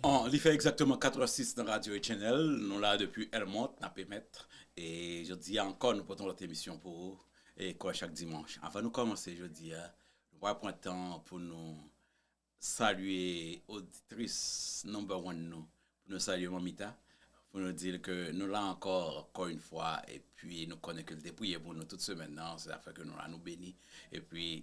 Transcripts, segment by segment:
An, li fè egzakteman 4 è 6 nan Radyo e Channel, nou la depi El Mont, n ap emèt, e jodi a ankò nou pote yon lòt emisyon pou ou, e kòm chak dimanch. Anvan nou kòmanse jodi a, nou pral pran tan pou nou salye oditris number one nou, pou nou salye Mamita, pou nou di l ke nou la ankò kò yn fwa, epi nou konnen ke l te priye pou nou tout semèn nan, se sa k fè ke nou la, nou beni, epi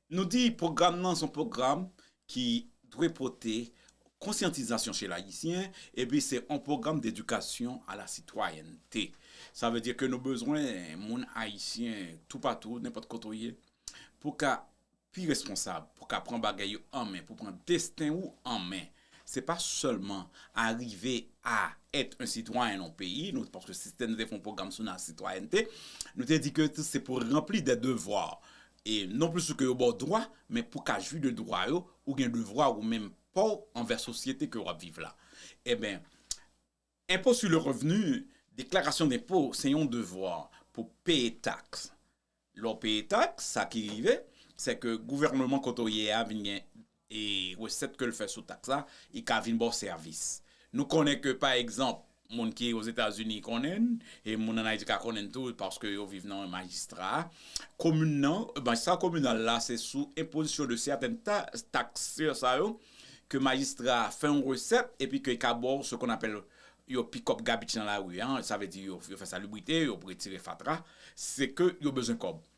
Nou di pwogram nan se yon pwogram ki dwe pote konsyantizasyon che Ayisyen epi se yon pwogram dedikasyon a la sitwayènte. Sa vle di ke nou bezwen moun Ayisyen toupatou, nenpòt kote ou ye, pou w ka pi responsab, pou w ka pran bagay yo an men, pou w pran desten ou an men. Se pa sèlman arive a èt yon sitwayen nan yon peyi, nou paske sistèm nou te fè yon pwogram sou la sitwayènte, nou te di ke se pou ranpli dè devwa. E non plis ou ke yo ba w dwa, men pou ka jwi de dwa yo, ou gen devwa ou menm pa w anvè sosyete ke w ap viv la. Enben, Impôt sur le revenu, deklarasyon denpo, se yon devwa pou peye taks. Lè w peye taks, sa ki rive, se ke gouvèneman kote w ye a vin gen E resèt ke l fè sou taks la, i ka vin ba w sèvis. Nou konnen ke pa egzanp, moun ki Ozetazini konnen n, e moun ann Ayiti ka konnen n tou paske yo viv nan majistra a. Komin nan, majistra kominal la se sou enpozisyon de sèten ta, taks sa yo ke majistra a fè yon resèt epi ke l ka ba w se kon apèl yo pick up garbage nan lari an, sa vle di yo fè salubrite, yo retire fatra, se ke yo bezwen kòb.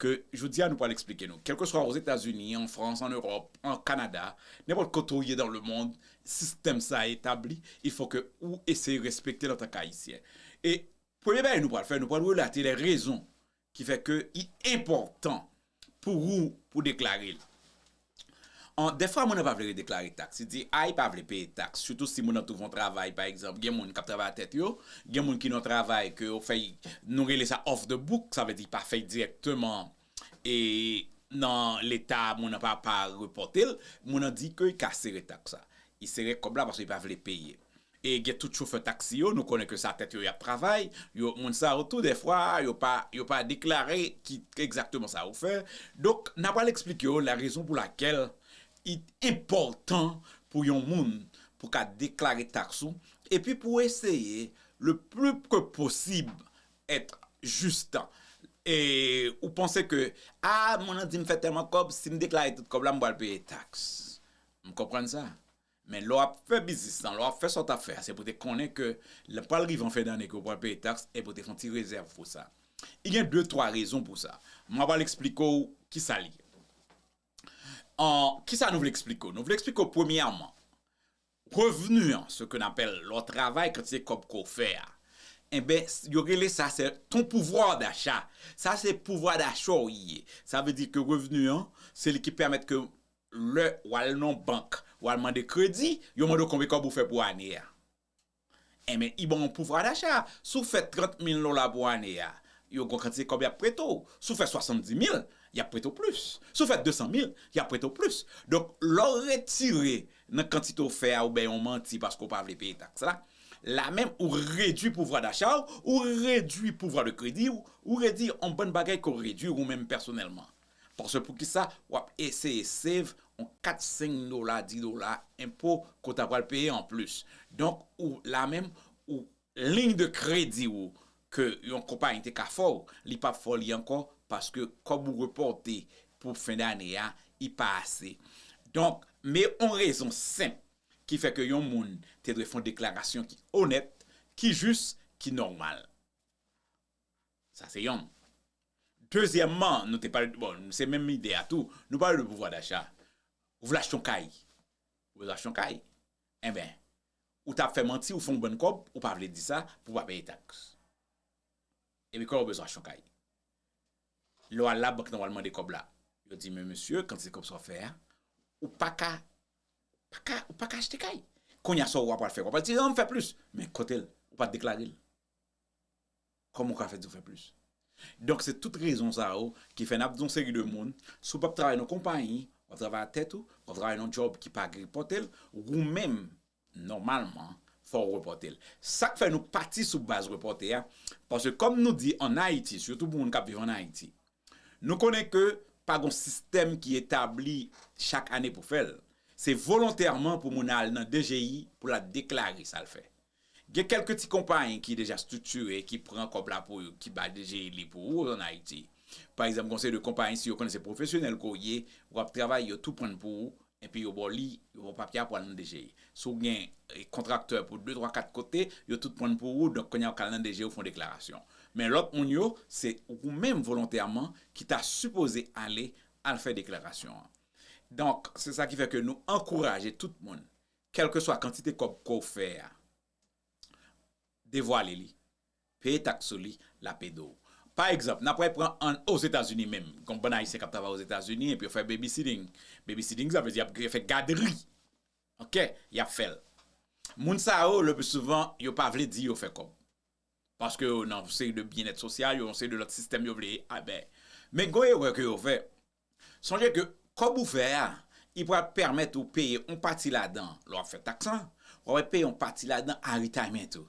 Ke jodi a nou pral eksplike nou. Kèlkeswa Ozetazini, an Frans, an Ewòp, an Kanada, nenpòt kote ou ye dan le mond, sistèm sa a etabli, il fò ke ou eseye respekte l antanke Ayisyen. E premye bagay nou pral fè, nou pral relate lè rezon ki fè ke li enpòtan pou ou pou deklare l. Dèfwa moun nan pa vle redeklare taks. Li di a li pa vle peye taks, sitou si moun nan twouve yon travay, pa egzanp, gen moun k ap travay a tèt yo, gen moun ki nan yon travay ke yo fèy, nou rele sa off the book, sa vle di pa fèy dirèkteman e nan leta, moun nan pa pa repòte l, moun nan di ke li ka sere taks sa. Li sere kòb la paske li pa vle peye. E gen tout chofè taxi yo, nou konnen ke sa tèt yo yap travay, yo moun sa yo tou dèfwa yo pa yo pa deklare ki egzakteman sa yo fè, donk na pral eksplike yo la rezon pou lakèl i enpòtan pou yon moun pou ka deklare taks ou epi pou eseye le pli ke posib èt jis tan e ou panse ke a moun nan di m fè tèlman kòb si m deklare tout kòb la m pral peye taks m konprann sa Men lè w ap fè biznis lan, lè w ap fè sa w t ap fè a, se pou w te konnen ke lè pral rive an fen dane ke w pral peye taks e pou w te fè yon ti rezèv pou sa. Gen de twa rezon pou sa. M ap al eksplike w ki sa li ye. Ki sa nou vle eksplike w? Nou vle eksplike w premyèman, revni an, se ke n apèl lè w travay, kantite kòb ke w fè a, enben yo rele sa se ton pouvoir d'achat. Sa se pouvwa dacha w ye. Sa vle di ke revni an, se li ki pèmèt ke Lè w al nan yon bank, w al mande kredi, yo mande w konbe kòb ou fè pou ane a. Enben, i ban w yon pouvwa dacha. Si w fè 30 mil dola pou ane a, yo gen yon kantite kòb y ap prete w. Si w fè 70 mil, y ap prete w plis. Si w fè 200 mil, y ap prete w plis. Donk, lè w retire nan kantite w fè a, ou bay yon manti paske w pa vle peye taks la, la menm ou redui pouvwa dacha w, ou redui pouvwa de kredi w, ou redui yon bann bagay ke w redui ou menm pèsonèlman. Paske poukisa wap eseye save on 4 5 dola 10 dola enpo ke w ta pral peye anplis. Donk ou la menm ou liy de kredi ou ke yon konpayi te ka fè w li pap fè w li ankò paske kòb ou repòte pou fen dane a li pa ase. Donk me on rezon senp ki fè ke yon moun te dwe fè on deklarasyon ki onèt, ki jis, ki nòmal. Sa se yon. Dezyèmman, nou te pale, bon, se menm ide a tou, nou pale de pouvwa dacha. Ou vle achte yon kay. Ou bezwen achte yon kay. Enben, ou ta fè manti, ou fè yon bann kòb, ou pa vle di sa, pou ou pa peye taks. Epi kòlè ou bezwen achte yon kay. Lè ou al labank nan ou al mande kòb la, yo di men mesye, kantite kòb sa ou fè a, ou pa ka, pa ka, ou pa ka achte kay. Kounye a sa ou ap pral fè? Ou ap pral di non, m fè plis. Men kote l? Ou pa deklare l. Kòman ou ka fè di ou fè plis? Donk se tout rezon sa yo ki fè n ap di yon seri de moun, si w p ap travay nan yon konpayi, w ap travay ak tèt ou, w ap travay nan yon djòb ki pa gripote l, ou menm nòmalman fò w repòte l. Sa k fè nou pati sou baz repòte a, paske kòm nou di an Ayiti, sitou pou moun k ap viv an Ayiti, nou konnen ke pa gen yon sistèm ki etabli chak ane pou fè l, se volontèman pou moun al nan DGI pou l al deklare sa l fè. Gen kèlke ti konpayi ki deja striktire, ki pran kòb la pou yo, ki bay DGI li pou ou an Ayiti. Pa egzanp, gen yon seri de konpayi si yo konnen se pwofesyonèl ke w ye, w ap travay, yo tou pran pou ou, enpi yo ba w li, yo ba w papye a pou al nan DGI. Si w gen kontraktè pou de twa kat kote, yo tout pran pou ou, donk kounye a ou ka al nan DGI ou fè yon deklarasyon. Men lòt moun yo, se ou menm volontèman ki ta sipoze ale al fè deklarasyon an. Donk, se sa ki fè ke nou ankouraje tout moun Kèlkeswa kantite kòb ke w fè a, devwale li, peye taks sou li, l ap ede w. Pa egzanp, n ap pral pran an Ozetazini menm, gen yon bann Ayisyen k ap travay Ozetazini epi yo fè babysitting. Babysitting sa vle di y ap fè gadri, ok, y ap fè l. Moun sa yo lepli souvan yo pa vle di yo fè kòb paske yo nan yon seri de byennèt sosyal, yo nan yon seri de lòt sistèm yo vle. Men gen yon erè ke yo fè, Sonje ke kòb ou fè a, li pral pèmèt ou peye yon pati ladan lè w ap fè taks lan, w ap peye yon pati ladan a retirement ou,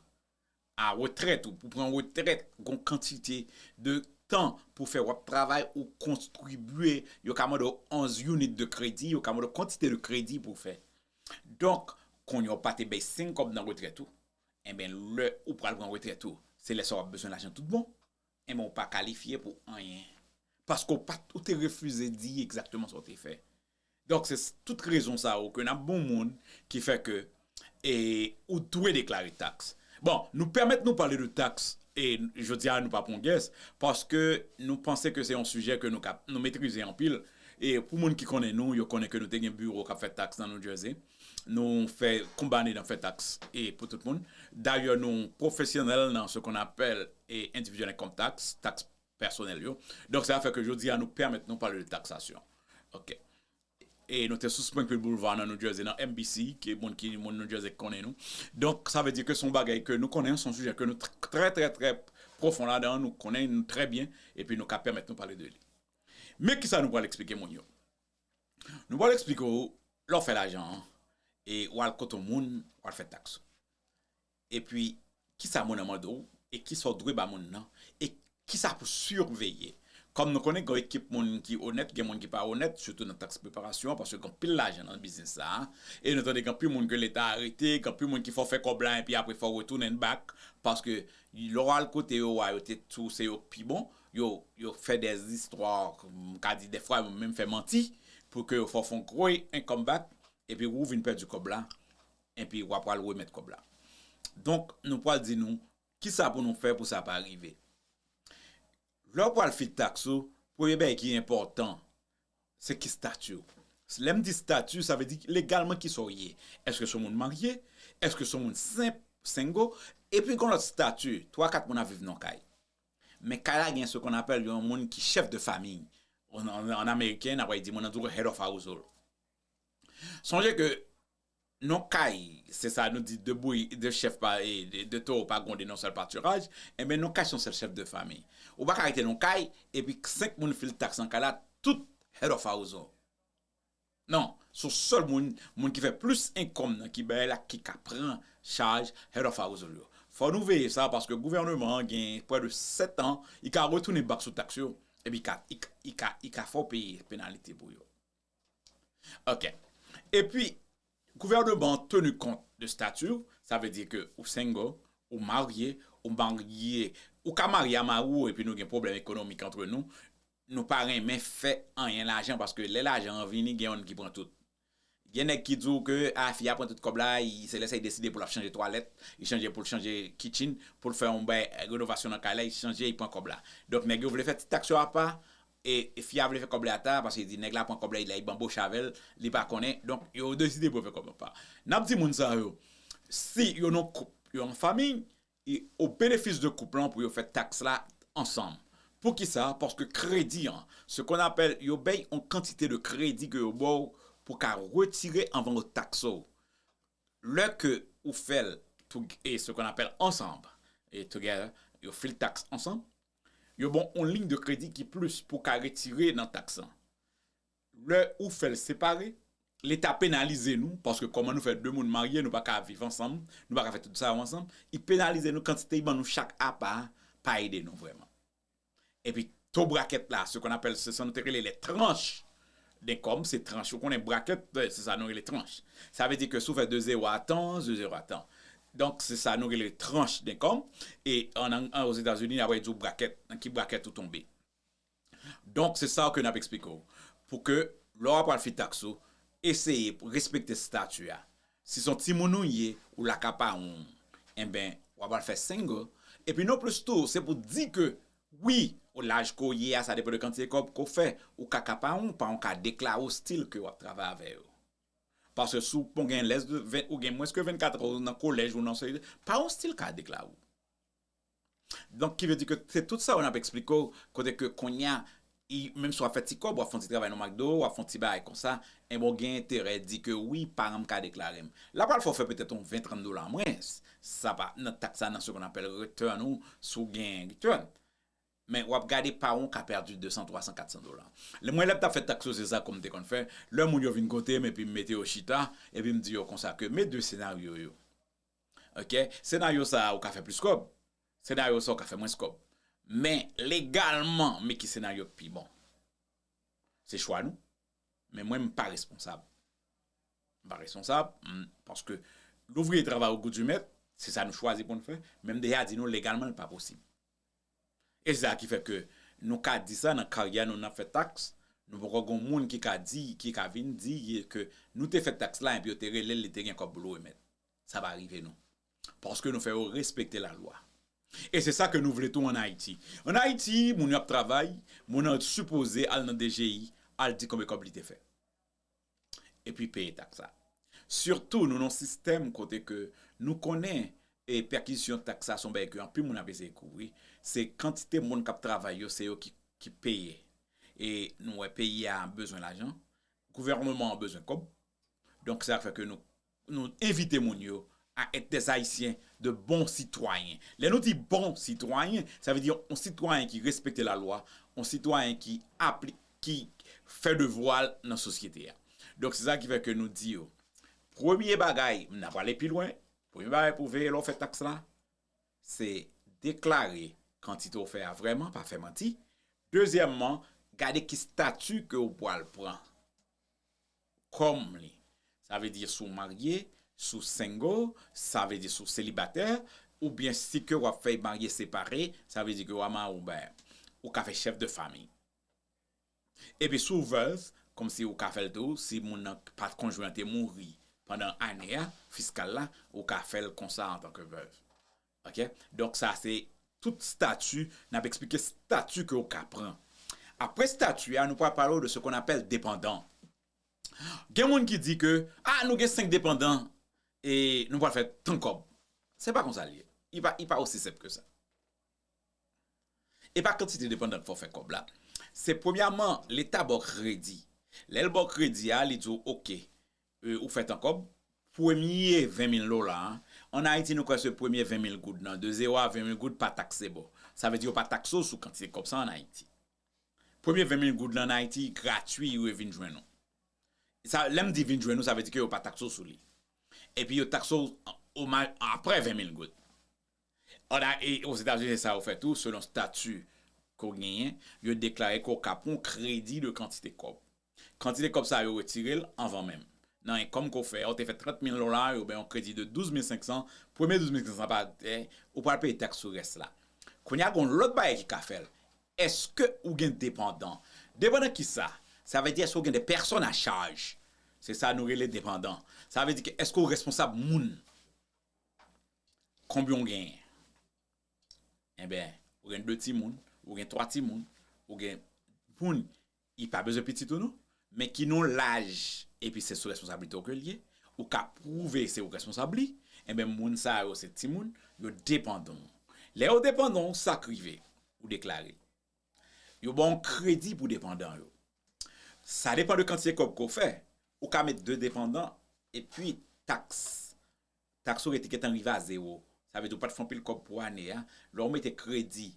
a retrèt ou, pou w pran retrèt, gen yon kantite de tan pou w fè w ap travay ou kontribye, yo ka mande w 11 unit de kredi, yo ka mande w kantite de kredi pou w fè. Donk, kounye a ou pa te bay 5 kòb nan retrèt ou, enben lè ou pral pran retrèt ou, se lè sa a w ap bezwen lajan tout bon, Enben ou pa kalifye pou anyen. Paske ou pa t, ou te refize di egzakteman sa ou te fè. Donk se tout rezon sa yo ke n ap ban yon moun ki fè ke e ou dwe deklare taks. Bon, nou pèmèt nou pale de taks e jodi a nou pa pran gès paske nou panse ke se yon sijè ke nou ka, nou metrize anpil e pou moun ki konnen nou yo konnen ke nou te gen biwo k ap fè taks nan New Jersey. Nou fè konbane nan fè taks e pou tout moun. Dayè nou pwofesyonèl nan se kon apèl e endividyèl enkom taks, taks pèsonèl yo. Donk sa fè ke jodi a nou pèmèt nou pale de taksasyon. Ok. E nou te sou Springfield Boulevard nan New Jersey nan MBC ke moun ki moun New Jersey konnen nou. Donk sa vle di ke se yon bagay ke nou konnen, se yon sijè ke nou trè trè trè pwofon ladan, nou konnen li trè byen epi nou ka pèmèt nou pale de li. Men kisa nou pral eksplike moun yo. Nou pral eksplike w lè w fè lajan an e w al kote yon moun w al fè taks ou. Epi kisa moun nan mande w e kisa w dwe ba moun nan e kisa pou siveye. Kòm nou konnen gen yon ekip moun ki onèt gen moun ki pa onèt sitou nan taks preparasyon paske gen anpil lajan nan biznis sa a. E nou tande gen anpil moun ke leta arete, gen anpil moun ki fè w fè kòb la epi apre fè w retounen bak paske lè w al kote yo a yo te di w se yo k pi bon Yo fè de istwa, m ka di dèfwa yo menm fè manti pou ke yo fè w fon gwo income back epi wou vin pèdi kòb la epi wa pral remèt kòb la. Donk nou pral di nou kisa pou nou fè pou sa pa rive. Lè w pral fil taks ou, premye bagay ki enpòtan se ki stati w. Lè m di stati sa vle di legalman kisa w ye. Eske se w moun marye, eske se w moun senp, single, epi gon lòt stati, 3, 4 moun ap viv nan w kay. Men kay la gen ce qu'on appelle yon moun ki chef de famille. En américain, n'a pral di moun nan toujou head of household. Sonje ke non kay, se sa nou di 2 bouyi, 2 chèf pa, 2 towo pa gwonde non sèl patiraj, enben non kay se yon sèl chèf de famiy. Ou pa ka rete non kay epi 5 moun fil taks nan kay la tout head of household. Non, son sèl moun moun ki fè plis enkòm nan ki bay la ki ka pran chaj Head of Household yo. Fò nou veye sa paske gouvèneman an gen pwè de 7 an i ka retounen bak sou taks yo epi i ka i ka fè w peye penalite pou yo. Ok. Epi gouvèneman an tenu kont de stati w, sa vle di ke ou single, ou marye, ou marye, ou ka marye a mari w epi nou gen pwoblèm ekonomik antre nou, Nou pa renmen fè anyen lajan paske lè lajan an vini gen yonn ki pran tout. Gen nèg ki di w ke a fi a pran tout kòb la, se lè sa li deside pou l ap chanje twalèt, li chanje pou l chanje kitchen, pou l fè yon bay renovasyon nan kay la, li chanje li pran kòb la. Donk nèg yo vle fè ti taks yo apa e fi a vle fè kòb li ata paske li di nèg la pran kòb la li banboche avè l, li pa konnen, donk yo deside pou yo fè kòb yo apa. N ap di moun sa yo si yo nan koup, yo nan fanmiy, E o benefis de koup lan pou yo fè taks la ansanm. Poukisa? Paske kredi an, se kon apèl yo bay on kantite de kredi ke yo baw pou ka retire anvan yo takse w. Lè ke ou fè l tou e se kon apèl ansanm, e together, yo fil taks ansanm, yo baw on liy de kredi ki plis pou ka retire nan taks lan. Lè ou fèl separe, leta penalize nou paske kòman nou fè 2 moun marye nou paka viv ansanm, nou paka fè tout sa yo ansanm, li penalize nou kantite li ban nou chak apa a pa ede nou vrèman. Epi to brakèt la, se kon apèl se sa nou te rele les tranches d'income, se tranch ou konnen brakèt se sa nou rele tranch. Sa vle di ke si ou fè 2 zero a tan, 2 zero a tan. Donk se sa nou rele tranche d'income e an Ozetazini apre yo di w brakèt, nan ki brakèt ou tonbe. Donk se sa w ke n ap eksplike w pou ke lè w ap pral fè taks ou, eseye pou respekte stati a. Si s on timoun ou ye, ou la ka paran w, enben w ap pral fè single. Epi non plis tou, se pou di ke wi, o laj ke w ye a, sa depan de kantite kòb ke w fè, ou ka ka paran w, paran w ka deklare w stil ke w ap travay avè yo. Paske si w pon gen lès de, ou gen mwens ke 24 an, ou nan kolèj, ou nan se, paran w stil ka deklare w. Donk ki vle di ke se tout sa yo nap eksplike w kote ke kounya menm si wap fè ti kòb wap fè yon ti travay nan McDo wap fè yon ti bagay konsa enben w gen enterè di ke wi paran m ka deklare m. La pral fè w fè petèt yon 20, 30 dola an mwens sa pa nan taks sa nan se konn apèl return ou si w gen return men wap gade paran w ka pèdi 200, 300, 400 dola. Lè mwen lè m tap fè taks yo se sa kòm te konn fè lè moun yo vin kote m epi m mete yo chita epi m di yo konsa ke me 2 senaryo yo. Ok senaryo sa ou ka fè plis kòb senaryo sa ou ka fè mwens kòb men legalman men ki senaryo k pi bon se chwa nou men mwen m pa responsab m pa responsab paske louvriye travay o gou di mèt se sa nou chwazi pou n fè men m deja di nou legalman l pa posib. E se sa ki fè ke nou ka di sa nan karyè nou nan fè taks, nou poko gon moun ki ka di, ki ka vin di ke nou te fè taks la epi yo te relel li te gen kòb pou l remèt. Sa pa rive nou. Paske nou fè yo respekte la lwa. E se sa ke nou vle tou an Ayiti. An Ayiti, moun yo ap travay, moun an sipoze al nan DGI al di konbe kòb li te fè. epi peye taks la. Sitou nou nan yon sistèm kote ke nou konnen pèkizyon taks la se yon bagay ke anpil moun ap eseye kouvri, se kantite moun k ap travay yo se yo ki peye. E nou wè peyi a bezwen lajan, gouvènman an bezwen kòb, donk se sa k fè ke nou Nou envite moun yo a èt des Ayisyen de bon sitwayen. Lè nou di bon sitwayen, sa vle di yon sitwayen ki respekte lalwa, yon sitwayen ki apli, ki fè devwa l nan sosyete a. Donk se sa ki fè ke nou di yo, premye bagay, m nan prale pi lwen, premye bagay pou veye lè w fè taks la, se deklare kantite w fè a vrèman, pa fè manti. Dezyèmman, gade ki stati ke w pwal pran. kòm li. Sa vle di si w marye, si w single, sa vle di si w selibatè, oubyen si ke w ap fèy marye separe, sa vle di ke w a mari w bè, ou ka fè chèf de fami. Epi si w vèv, kòm si ou ka fè l tou, si moun nan, pa konjwen an te mouri pandan ane a, fiskal la, ou ka fè l konsa antanke vèv. Ok donk sa se tout stati nap esplike stati ke ou ka pran apre stati a nou pral pale ou de se kon apèl depandan gen moun ki di ke ah nou gen 5 depandan e nou pral fè tan kòb se pa konsa li ye i pa osi senp ke sa e pa kantite depandan ke fè ou fè kòb la se premyaman leta baw kredi lèl baw kredi a li diw ok Ou fèt an kòb. Premye 20 mil dola an, an Ayiti nou kwè se premye 20 mil goud nan, de 0 a 20 mil goud pa takse bò. Sa vle di yo pa takse w sou kantite kòb sa an Ayiti. Premye 20 mil goud lan an Ayiti gratui yo e vin jwenn ou. Sa, lè m di vin jwenn ou sa vle di ke yo pa takse w sou li. Epi yo takse w o ma aprè 20 mil goud. An a e Ozetazini se sa yo fè tou selon stati ke w genyen, yo deklare ke w ka pran yon kredi de kantite kòb. Kantite kòb sa a yo retire l anvan menm. Nan enkom ke w fè a, ou te fè 30 mil dola, yo bay yon kredi de 12 mil 500, premye 12 mil 500 pa te, ou pral peye taks sou rès la. Kounye a gen yon lòt bagay ki ka fè l, eske ou gen depandan? Depandan kisa? Sa vle di eske ou gen de pèsòn a chaj? Se sa nou rele depandan. Sa vle di ke eske ou responsab moun? Konbyen ou genyen? Enben, ou gen 2 timoun, ou gen 3 timoun, ou gen moun ki pa bezwen pitit ou non, men ki nan yon laj epi se sou responsablite ou ke li ye, ou ka pwouve se ou responsab li, enben moun sa yo se timoun, yo depandan ou. Lè yo depandan ou, sa k rive? Ou deklare l. Yo ba w kredi pou depandan yo. Sa depan de kantite kòb ke w fè, ou ka met 2 depandan epi taks, taks ou rete gentan rive a zewo. Sa vle di ou pa t fè anpil kòb pou ane a. Lè w mete kredi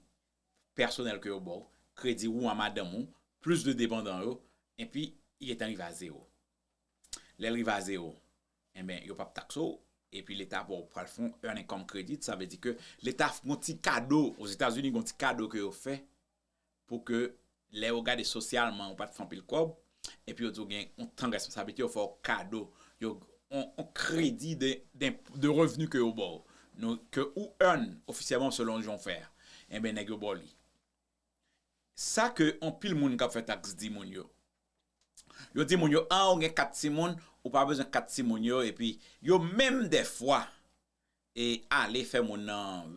pèsonèl ke yo ba w, kredi ou a madanm ou, plis 2 depandan yo, epi li gentan rive a zewo. Lè l rive a zewo, enben yo p ap takse w, epi leta ba w pral fè yon earn income credit, sa vle di ke leta ap fè yon ti kado, Ozetazini gen yon ti kado ke yo fè pou ke lè yo gade sosyalman ou pa t fè anpil kòb, epi yo di w gen yon tan responsablite yo fè w kado, yon kredi de revni ke yo ba w, ke ou earn ofisyèlman selon jan w fè a, enben nèg yo ba w li. Sa ke anpil moun kap fè tax di moun yo. Yo di moun yo ah ou gen 4 timoun ou pa bezwen 4 timoun yo epi yo menm dèfwa e ale fè moun nan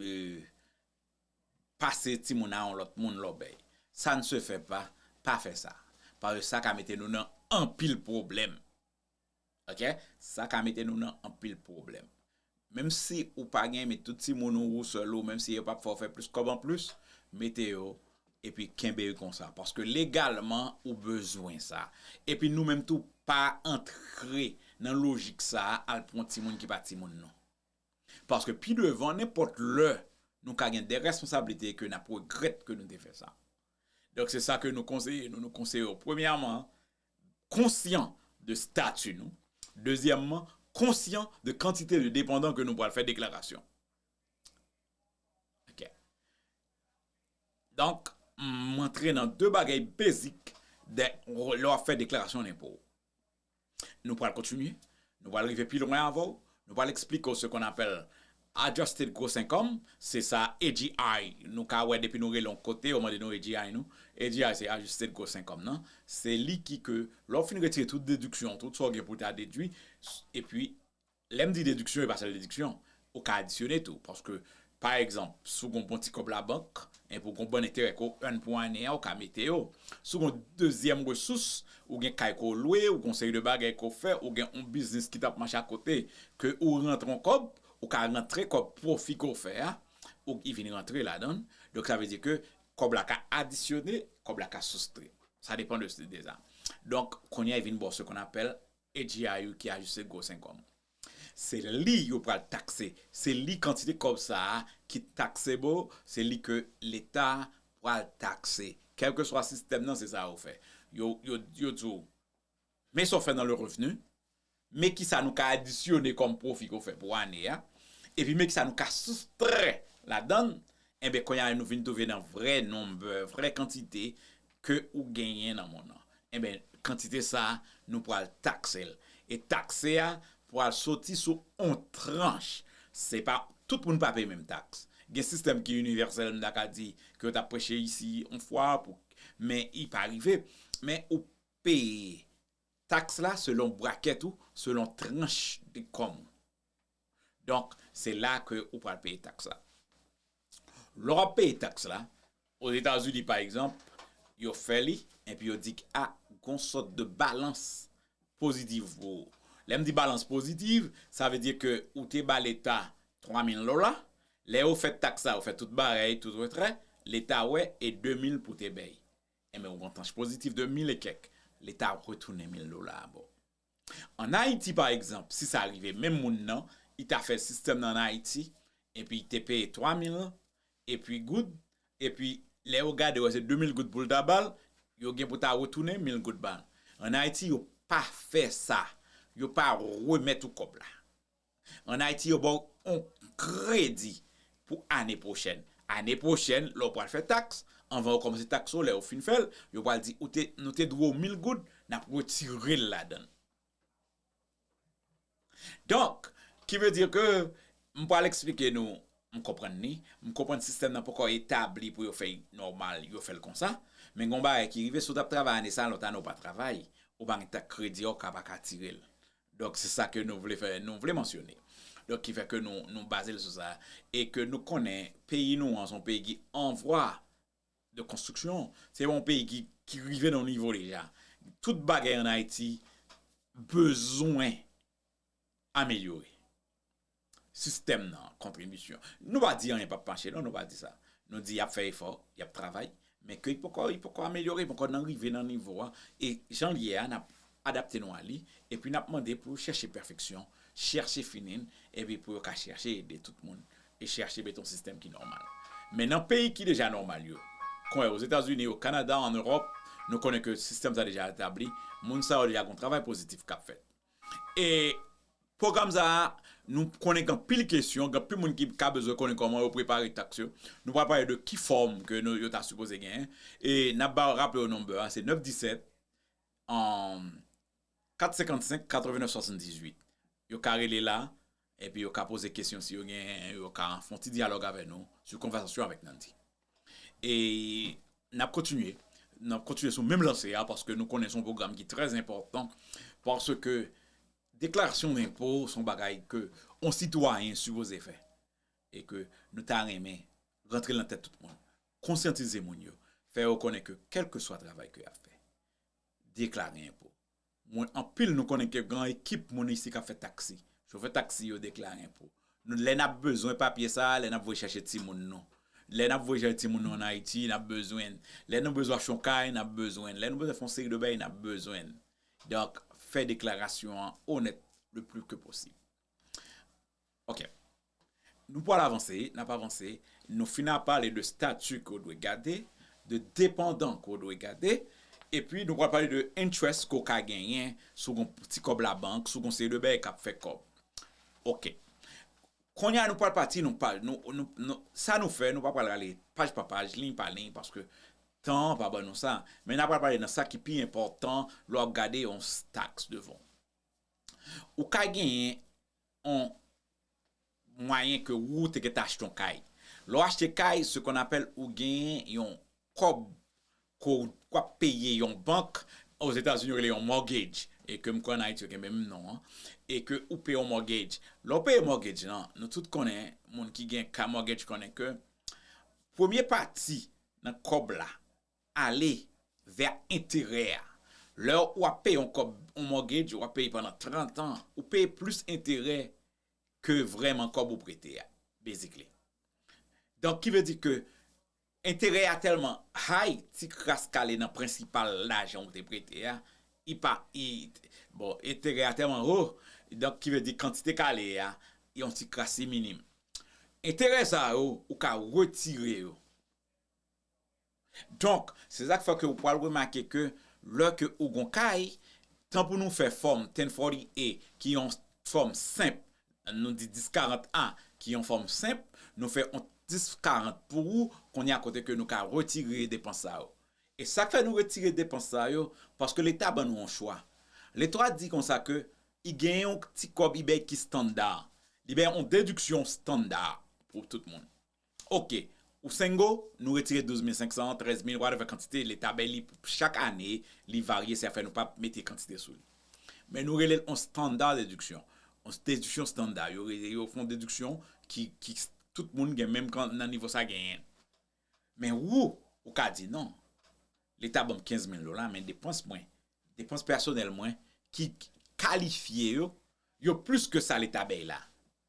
pase timoun a yon lòt moun lòbèy. Sa n se fè pa, pa fè sa. Paske sa ka mete nou nan anpil pwoblèm. Ok sa ka mete nou nan anpil pwoblèm. Menm si ou pa gen met tout timoun ou ou sèl ou menm si yo pap fè w fè plis kòb anplis mete yo epi kenbe yo konsa paske legalman ou bezwen sa epi nou menm tou pa antre nan lojik sa al pran timoun ki pa timoun nou paske pi devan nenpòt lè nou ka gen de responsablite ke nap regrèt ke nou te fè sa donk se sa ke nou konseye nou nou konseye w premyèman konsyan de stati nou, dezyèmman, konsyan de kantite de depandan ke nou pral fè deklarasyon. Ok. Donk, m antre nan de bagay bezik de lè w ap fè deklarasyon lenpo w. Nou pral kontinye, nou pral rive pi lwen avè w, nou pral eksplike w se kon apèl Adjusted Gross Income, se sa AGI nou ka wè depi nou rele yon kote yo mande nou AGI nou, AGI se Adjusted Gross Income nan, se li ki ke lè w fin retire tout dediksyon, tout sa w gen pou w ta dedwi, epi lè m di dediksyon e pa sèl dediksyon, ou ka adisyone tou paske pa egzanp si w gen yon bon ti kòb labank enpi w gen yon bon enterè ke w earn pou ane a ou ka mete yo, si w gen yon dezyèm resous Ou gen kay ke w lwe, ou gen yon seri de bagay ke w fè, ou gen yon biznis ki tap mache akote ke ou rantre yon kòb, ou ka rantre kòb pwofi ke w fè a, ou ki vin rantre ladan l. Donk sa vle di ke kòb la ka adisyone, kòb la ka soustre. Sa depan de sa. Donk kounye a vin ba w se konn apèl AGIU ki Ajiste Gros Income. Se li yo pral takse se li kantite kòb sa a ki taxable se li ke leta pral takse kèlkeswa sistèm nan se sa yo fè yo yo di w men sa w fè nan le revenu men kisa nou ka adisyone kòm pwofi ke w fè pou ane a epi men kisa nou ka soustrè ladann enben kounye a nou vin twouve nan vrè number vrè kantite ke ou genyen nan monn nan, enben, kantite sa a, nou pral takse l. E takse a pral soti sou yon tranch. Se pa, tout moun pa peye menm taks. Gen sistèm ki inivèsèl, m ta ka di, ke yo ta preche isi yon fwa, pou, men li pa rive. Men ou peye taks la selon brakèt ou, selon tranch de kòm ou. Donk, se la ke ou pral peye taks la. Lè w ap peye taks la, Ozetazini pa egzanp, yo fè li, epi yo di ke a, gon sòt de balans pozitiv pou ou. Lè m di balans pozitiv, sa vle di ke ou te ba leta 3 mil dola, lè yo fè taks la, yo fè tout bagay, tout retrè, leta wè e 2 mil pou te bay. Enben, ou gon tranch pozitiv de mil e kèk, leta retounen mil dola a ba w. An Ayiti pa egzanp, si sa rive menm moun nan, li ta fè sistèm nan an Ayiti, epi li te peye 3 mil epi goud, epi lè yo gade wè se 2 mil goud pou l ta ba l, yo gen pou ta retounen mil goud ba l. An Ayiti yo pa fè sa, yo pa remèt ou kòb la. An Ayiti yo ba w yon kredi pou ane pwochèn. Ane pwochèn lè w pral fè taks, anvan yo kòmanse taks ou, lè yo fin fè l, yo pral di ou te, nou te dwe w 1000 goud, n ap retire l ladan l. Donk, ki vle di ke m pral eksplike nou, m konprann li, m konprann sistèm nan poko etabli pou yo fè l nòmal, yo fè l konsa, men gen yon bagay ki rive, si w t ap travay ane sa, lòt ane ou pa travay, ou pa gen taks kredi a, ou ka pa ka tire l. Donk se sa ke nou vle fè, nou vle mansyone. Donk ki fè ke nou, nou baze l sou sa. E ke nou konnen peyi nou an se yon peyi ki an vwa de konstriksyon. Se yon peyi ki, ki rive nan yon nivo deja. Tout bagay an Ayiti bezwen amelyore. sistèm nan, kontribisyon. Nou pa di anyen pap mache non, nou pa di sa. Nou di y ap fè efò, y ap travay, men ke li poko li poko amelyore, li poko nan rive nan nivo a, e jan l ye a n ap adapte nou a li, epi n ap mande pou yo chèche pèfeksyon, chèche fini l, epi pou yo ka chèche ede tout moun, e chèche mete yon sistèm ki nòmal. Men nan peyi ki deja nòmal yo, kon Ozetazini, o Kanada, an Ewòp, nou konnen ke sistèm sa deja etabli, moun sa yo deja gen yon travay pozitif k ap fèt. E pwogram sa a, nou konnen gen anpil kesyon, gen anpil moun ki ka bezwen konnen kòman yo prepare taks yo. Nou pral pale de ki fòm ke yo ta sipoze genyen. E n ap ba w raple w number a, se 917 455 89 78. Yo ka rele la. Epi yo ka poze kesyon si yo gen, yo ka fon ti dyalòg avè nou sou konvèsasyon avèk Nandy. E nap kontinye, nap kontinye sou menm lanse a paske nou konnen son pwogram ki trè enpòtan paske deklarasyon lenpo son bagay ke on sitwayen sipoze fè e ke nou ta renmen rantre lan tèt tout moun, konsyantize moun yo, fè yo konnen ke kèlkeswa travay ke yap fè, deklare enpo Mwen anpil nou konnen ke gan ekip moun isi kap fè taksi. Chofè taksi yo deklare enpo. Nou lè nap bezwen papye sa a lè nap voye chache timoun nou. Lè nap voye chache timoun nou an Ayiti nap bezwen. Lè nou bezwen achon kay nap bezwen. Lè nou bezwen fon seri de bagay nap bezwen. Donk fè deklarasyon an onèt le pli ke posib. Ok. Nou pwal avanse, nap avanse, nou fin a pale de stati ke w dwe gade, de depandan ke w dwe gade, epi nou pwal pale de enterès ke w ka genyen si w gen yon ti kòb labank, si w gen yon seri de bagay kap fè kòb. Ok. Kounye a nou pwal pati nou pale, nou, sa nou fè, nou pa pwal ale paj pa paj, liy pa liy, paske tan an pa ban nou sa, men nap pwal pale nan sa ki pi enpòtan lè w ap gade yon tax devan w. Ou ka genyen. on mwayen ke wou te gentan achte on kay. Lè w achte kay, se kon apèl ou genyen yon kòb ke w k ap peye yon bank, ozetazini yo rele yon mortgage, e ke m kwè an Ayiti yo gen menm non an, e ke ou peye yon mortgage. Lè w peye mortgage lan, nou tout konnen, moun ki gen kay mortgage konnen ke premye pati nan kòb la, ale vè enterè a. Lè ou ap peye yon kòb, yon mortgage ou ap peye pandan 30 an, ou peye plis enterè ke vrèman kòb ou prete a, basically. Donk ki vle di ke enterè a tèlman high, ti kras kale nan prensipal lajan ou te prete a, li pa, bon, enterè a tèlman wo, donk ki vle di kantite kale a, yon ti kras li minim. Enterè sa yo, ou ka retire yo. Donk, se sa k fè ke ou pwal remake ke lè ke ou gon kay, tan pou nou fè fòm 1040A ki yon fòm senp, nou di 1040A ki yon fòm senp, nou fè yon 1040 pou ou, kounye a kote ke nou ka retire depans sa yo. E sa k fè nou retire depans sa yo, paske leta ban nou yon chwa. Leta di konsa ke i gen yon ti kòb i bèy ki standa. Li bèy yon dediksyon standa pou tout moun. Ok ou sengo nou retire 12 mil 500 an 13 mil whatever kantite leta bay li pou chak ane li varye se afè nou pa mete kantite sou li men nou relel on standard deduction on deduction standard yo rele yo fon deduction ki ki tout moun gen menm kan nan nivo sa genyen men wou ou ka di non leta banm 15 mil dola men depans mwen depans pèsonèl mwen ki kalifye yo yo plis ke sa leta bay la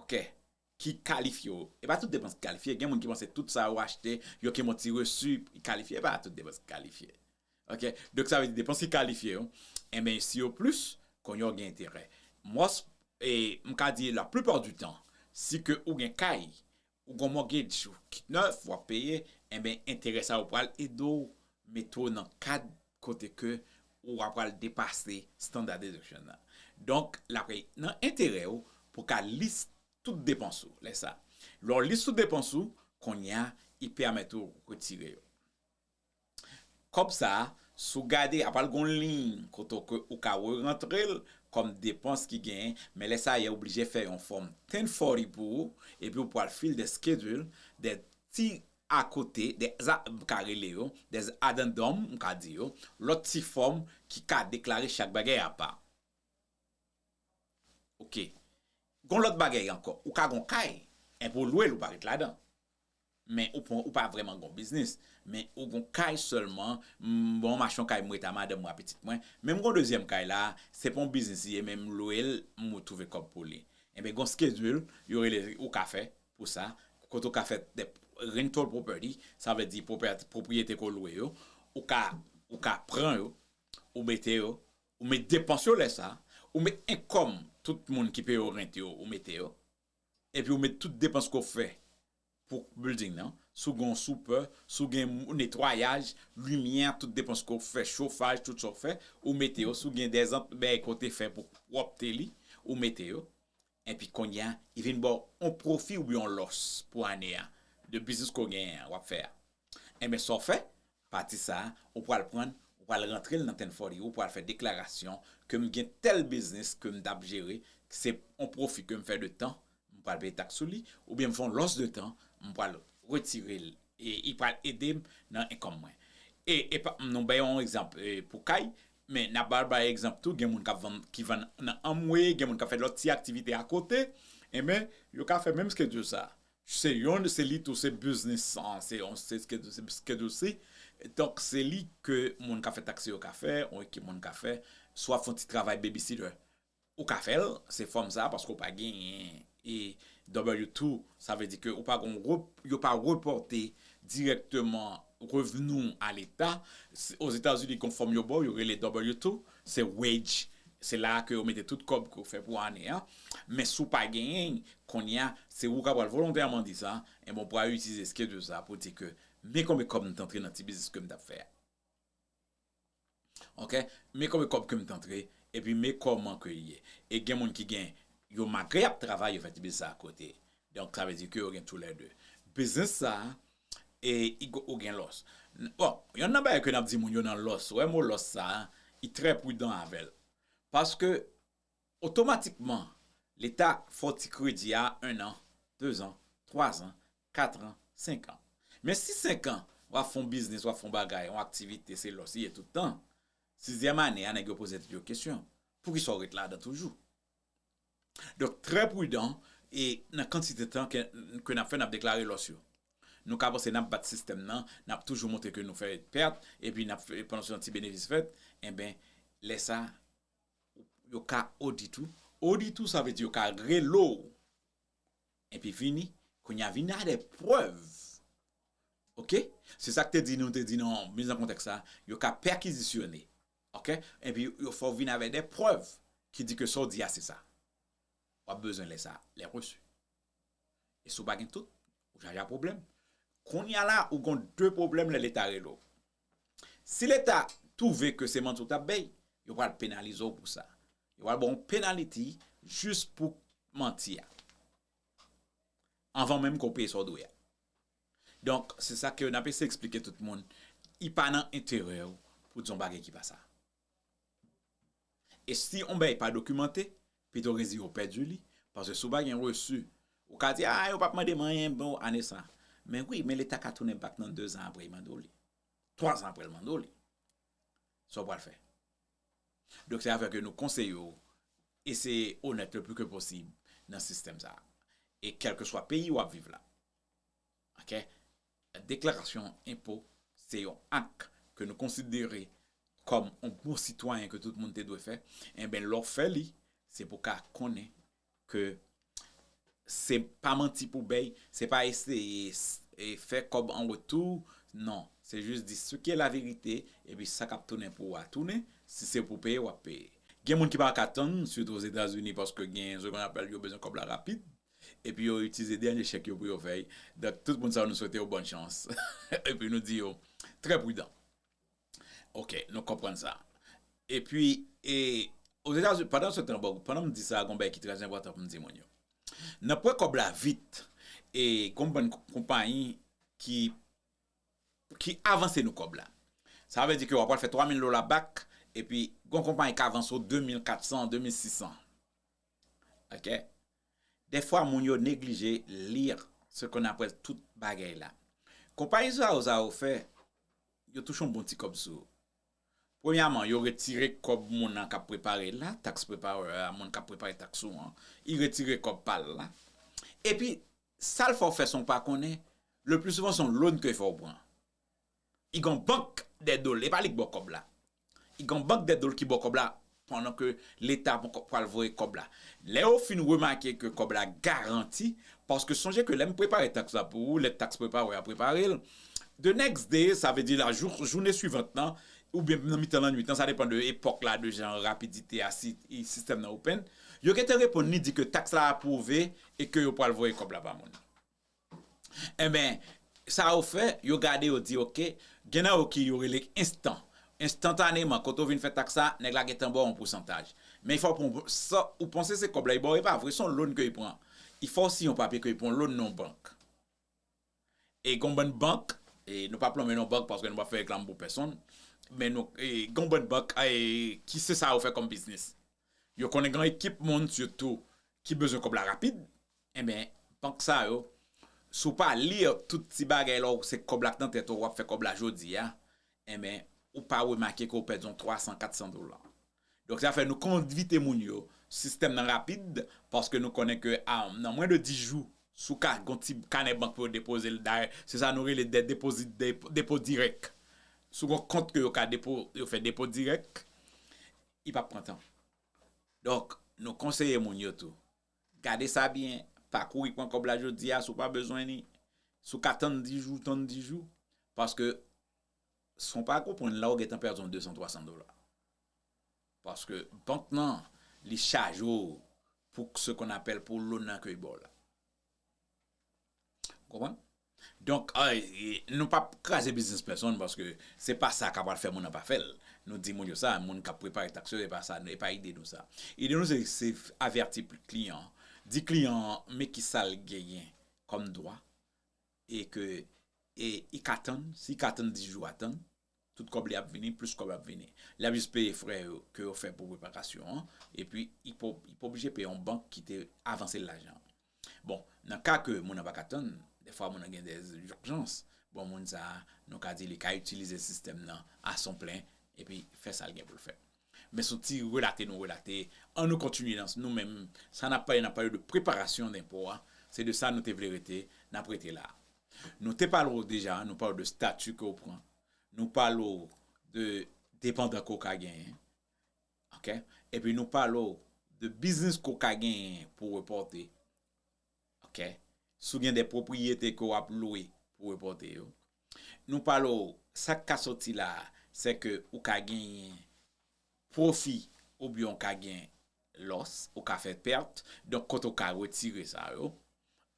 Ok. Ki kalifye w. E pa tout depans ki kalifye. Gen moun ki panse tout sa yo achte, yo ki monte resu ki kalifye. E pa tout depans ki kalifye. Ok. Donk sa vle di depans ki kalifye yo, enben si yo plis, konye w gen enterè. Mòs, e m ka di la plipa di tan, si ke ou gen kay, Ou gon mortgage ou ki nèf wap peye enben enterè sa yo pral ede w mete w nan kad kote ke ou a pral depase standard deduction nan. Donk la pre nan enterè ou pou w ka lis tout depans ou lè sa. Lè w lis tout depans ou, konnya i pèmèt ou retire yo. Kòb sa a, si w gade, ap pral gen yon liy kote ke ou ka rerantre l kòm depans ki genyen, men lè sa a yè oblije fè yon fòm 1040 pou ou, epi ou pral fill the schedule, de ti akote, de a, m ka rele yo, de addendum, m ka di yo, lòt ti fòm ki ka deklare chak bagay apa. Ok. Gen yon lòt bagay ankò, ou ka gen yon kay, enpi ou lwe l, ou pa ret ladan. Men ou pa vreman gon biznis. Men ou gon kay selman, bon m achte yon kay m ret a madanm mwen a pitit mwen. Men m gon dezyèm kay la, se pa yon biznis li ye men m lwe l m retwouve kòb pou li. Enben gon skedil yo rele ou ka fè pou sa, kote ou ka fè de rental property, sa vle di pwopriyete ke w lwe yo, ou ka ou ka pran yo, ou mete yo, ou met depans yo lè sa, ou met enkom tout moun ki peye w rent yo ou mete yo, Epi ou met tout depans ke w fè pou building nan, si w gen yon soupè, si w gen netwayaj, limyè, tout depans ke w fè, chofaj, tout sa w fè, ou mete yo, si w gen de zant bèy ke w te fè pou pwòpte li, ou mete yo. Epi kounye a, yo vin ba w yon pwofi oubyen yon lòs pou ane a, de biznis ke w genyen an, w ap fè a. Enben sa w fè, pati sa a, ou pral pran l, ou pral rantre l nan 1040 ou pral fè deklarasyon ke m gen tèl biznis ke m t ap jere, k se yon pwofi ke m fè de tan, m pral peye taks sou li, oubyen m fè yon lòs de tan, m pral retire l e li pral ede m nan enkòm mwen. E e pa nou bay yon egzanp pou kay, men n ap ba bay egzanp tou gen moun k ap vann, ki vann nan Amway, gen moun k ap fè lòt ti aktivite akote, enben yo ka fè menm skedjil sa a. Se yon se li tou se biznis san se yon se skedosri donk se li ke moun ka fè taksi yo ka fè yon ekip moun ka fè si w ap fè yon ti travay bebisitè ou ka fè l se fòm sa paske ou pa genyen e w tou sa vle di ke ou pa gen yon gwo yo pa repòte dirèkteman revni w a leta ozetazini gen yon fòm yo ba w yo rele w tou Se wage, se la a ke yo mete tout kòb ke w fè pou ane an. Men si w pa genyen, kounye a, se ou ka pral volontèman di sa, enben w pral itilize schedule sa a pou di ke men konbe kòb m t antre nan ti biznis ke m t ap fè a. Ok, men konbe kòb ke m t antre, epi men kòman ke l ye. E gen moun ki gen, yo malgre y ap travay, yo fè ti biznis sa a akote. Donk sa vle di ke yo gen tou lè de. Biznis sa a, E igo ou gen lòs. Bon, yonn nan bagay ke nap di moun yo nan lòs, wè mo lòs sa a, i trè prudan avè l. Paske otomatikman leta fè w ti kredi a 1 an, 2 zan, 3 zan, 4 ran, 5 an. Men si 5 an wap fè yon biznis, wap fè yon bagay, yon aktivite se lòs li ye tout tan, sizyèm ane a nèg yo poze tèt yo kesyon, poukisa w ret ladan toujou? Donk trè prudan e nan kantite tan ke nap fè nap deklare lòs yo. Nou ka panse nap bat sistèm nan, nap toujou montre ke nou fè pèt epi nap panse yon ti benevis fèt, enben lè sa yo ka odit ou, odit ou sa vle di yo ka rele w epi vini kounye a vini a de prèv ok, se sak te di nou te di nan miz an kontèks la, yo ka pèkizisyone. Ok epi yo fè w vin avèk de prèv ki di ke sa w di a se sa w ap bezwen lè sa lè reçu e si w pa gen tout ou chaje a pwoblèm kounya la ou gon de pwoblèm lè leta rele w si leta twouve ke se manti w tap bay yo pral penalize w pou sa yo pral ba w yon penaliti jis pou manti a anvan menm ke w peye sa w dwe a. Donk, se sa ke nap eseye eksplike tout moun, li pa nan enterè ou pou di yon bagay ki pa sa. E si yon bagay pa dokimante, pito reziye ou pèdi li, paske si ou pa gen resu, ou ka di, ah yo pap mande m anyen pou ane sa. Men wi, men leta ka tounen bak nan dezan apre li mande w li. Twa zan apre li mande w li. Sa ou pral fè? Donk se avèk yo nou konseye ou, eseye onèt le pli ke posib nan sistèm sa. E kèlkeswa peyi wap viv la, Oke deklarasyon enpo se yon ak ke nou konsidere kòm yon bon sitwayen ke tout moun te dwe fè enben lè w fè li se pou ka konnen ke se pa manti pou bèy se pa eseye fè kòb an retou non se jis di se ki e la verite epi sa kap tounen pou ou a tounen si se pou peye wap peye gen moun ki pa ka tann sitou ozetazini paske gen se konn apèl yo bezwen kòb la rapid. Epi yo itilize dènye chèk yo pou yo fè y. Donk tout moun sa yo nou swete yo bòn chans. Epi nou di yo trè pridan. Ok, nou konprann sa. Epi, e, Ozetazini, pandan se tan, bon, pandan m di sa a, gon bagay ki trè enpòtan pou m di moun yo. Nan pran kòb la vit, e, gon bann konpayi ki, ki avanse nou kòb la. Sa vle di ke w apral fè 3 mil dola bak, epi gon konpayi k avanse w 2 mil 400, 2 mil 600. Ok Defwa moun yo neglije lire ce qu'on appelle tout bagay la. Konpayi zao zao fè yo touche yon bon ti kòb sou. Premyaman yo retire kòb moun nan kap prepare la, tax preparer a, moun kap prepare tax ou an, li retire kòb pa l la. Epi sal fè w fè san w pa konnen, le plus souvent son loan ke fè w pran. I gon bank dè dol, e pa li k bò kòb la. I gon bank dè dol ki bò kòb la pandan ke leta ponkò pwal voye kòb la. Lè yo fin remake ke kòb la garanti, paske sonje ke lè m prepare taks la pou ou, lè taks prepare a prepare l, the next day, sa vle di la jou, joune suivant lan, oubyen nan mitan lannwit lan, sa depan de epòk la, de jan rapidite a, si sistèm nan open, yo gen tan reponn li di ke taks la apwouve e ke yo pwal voye kòb la ba moun nan. Enben, sa yo fè, yo gade yo di ok, gen nan yo ki yo rele enstan, enstantaneman kote ou vin fè taks la, nèg la gentan ba w yon pousantaj. Men fò pou sa ou panse se kòb la li ba w e pa vre, se yon loan ke li pran. Li fè w siyen yon papye ke li pran yon loan nan yon bank. E gen yon bann bank, e nou pa plonmen non bank paske nou pa fè reklam pou pèsonn, men nou gen yon bann bank ki se sa yo fè kòm biznis. Yo konnen gen yon ekip moun sitou ki bezwen kòb la rapid, enben bank sa yo si w pa li tout ti bagay la w se kòb la k nan tèt ou, w ap fè kòb la jodi a, enben ou pa remake ke w pèdi yon 300, 400 dola. Donk sa fè nou envite moun yo sistèm nan rapid paske nou konnen ke nan mwen de 10 jou si w ka gen yon ti kanè bank pou yo depoze l dayè se sa nou rele dè depozit depo dirèk si w gen yon kont ke yo ka depo yo fè depo dirèk I pap pran tan. Donk, nou konseye moun yo tou. Gade sa byen, pa kouri pran kòb la jodi a si w pa bezwen li. Si w ka tann 10 jou, tann 10 jou. Paske, san w pa konprann la ou gentan pèdi yon 200, 300 dola. Paske, bank nan, li chaje w pou se kon apèl pou lonan ke y ba w la. Ou konprann? Donk, nou pa p kraze biznis pèsonn paske se pa sa k ap fè moun nan pa fè l. Nou di moun yo sa, moun k ap prepare taks yo, e pa ide nou sa. Ide nou se avèti kliyan an, di kliyan an men ki sa l genyen kòm dwa e ke e i ka tann, si ka tann 10 jou a tann. Tout kòb li ap vini, plis kòb ap vini. Li ap jis peye frè yo ke yo fè pou repakasyon an, epi li pa oblije peye yon bank ki te avanse l lajan an. Bon, nan ka ke moun nan pa ka tann, dèfwa moun nan gen dè urjans, bon moun sa a, nou ka di li ka itilize sistèm nan a son plen epi fè sa l gen pou l fè. Men son ti relate nou relate, an nou kontinye nan nou menm, sa n ap pale, n ap pale de preparasyon denpo a, se de sa nou te vle rete, n ap rete la a. Nou te pale w deja, nou pale w de stati ke w pran, nou pale w de depandan ke w ka genyen, ok, epi nou pale w de biznis ke w ka genyen pou w repòte, ok, si w gen de pwopriyete ke w ap lwe pou w repòte yo, nou pale w sa k ka soti la a, se ke ou ka genyen pwofi oubyen ou ka gen Lòs, ou ka fè pèt, donk kote ou ka retire sa yo.